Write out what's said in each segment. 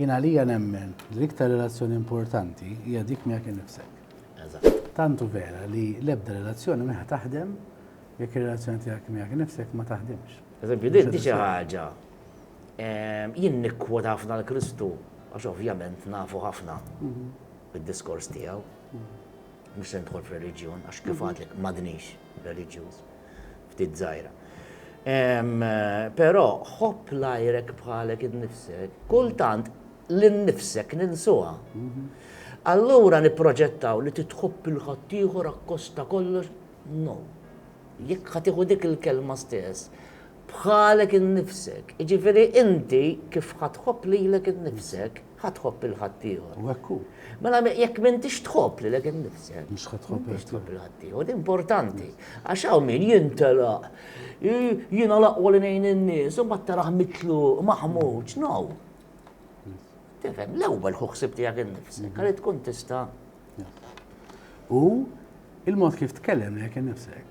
Jien għalija nemmen li l-iktar relazzjoni importanti hija dik miegħek innifsek. Eżatt. Tant hu vera li l-ebda relazzjoni mhi ħa taħdem jekk ir-relazzjoni tiegħek miegħek innifsek ma taħdimx. Eżempju, din xi ħaġa ehm, jien nikkwot ħafna l-Kristu għax ovvjament nafu ħafna mhm. bid-diskors tiegħu. Mhm. Mhux se nidħol f'reliġjon għax kif mhm. għadlek m'għadniex reliġjuż. ftit żgħira. Però ħobb l-għajrek bħalek innifsek, kultant lil nnifsek ninsuha. Mhm. Allura nipproġettaw li titħobb il ħaddieħor akkosta kollox, no. Jekk ħa tieħu dik il-kelma stess, bħalek innifsek, jiġifieri inti kif ħa tħobb lilek innifsek, ħa tħobb lil ħaddieħor. U hekk hu. Mela jekk m'intix tħobb lilek innifsek, Mhux ħa tħobb m'intix tħobb lil ħaddieħor, din importanti. Għax hawn min jintelaq, "I- jiena l-aqwa li ngħin in-nies, u mbagħad tarah mitluq, maħmuġ, no. Tifhem, l-ewwel ħu ħsieb tiegħek innifsek, għalli tkun tista'. U il-mod kif tkellem lilek innifsek,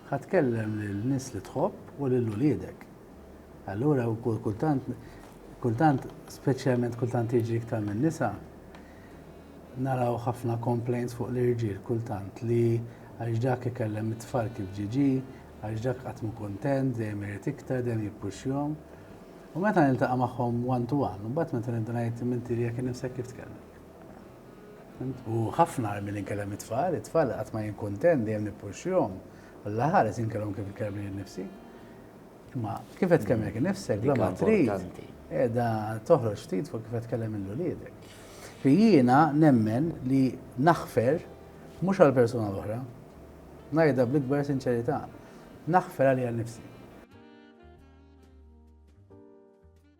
Ħa tkellem lin-nies li tħobb u lil uliedek. Allura wkoll kultant, kultant, speċjalment kultant jiġri iktar minn nisa, naraw ħafna complaints fuq l-irġiel kultant li għax dak ikellem it-tfal kif ġie ġie, għax dak qatt mhu kuntent, dejjem irid iktar, dejjem jippuxxjahom. U meta niltaqa' magħhom one to one, imbagħad meta nibda ngħid m'inti lilek innifsek kif tkellmek? U ħafna għar milli nkellem it-tfal, it-tfal qatt ma jien kuntent, dejjem nippuxxihom. Alla ħares inkellmhom kif inkellem lili nnifsi. Imma kif qed tkellem lilek innifsek, bla ma trid, qiegħda toħroġ ftit fuq kif qed tkellem lil uliedek. Fi jiena nemmen li naħfer mhux għall-persuna l-oħra, ngħidha bl-ikbar sinċerità, naħfer għalija nnifsi.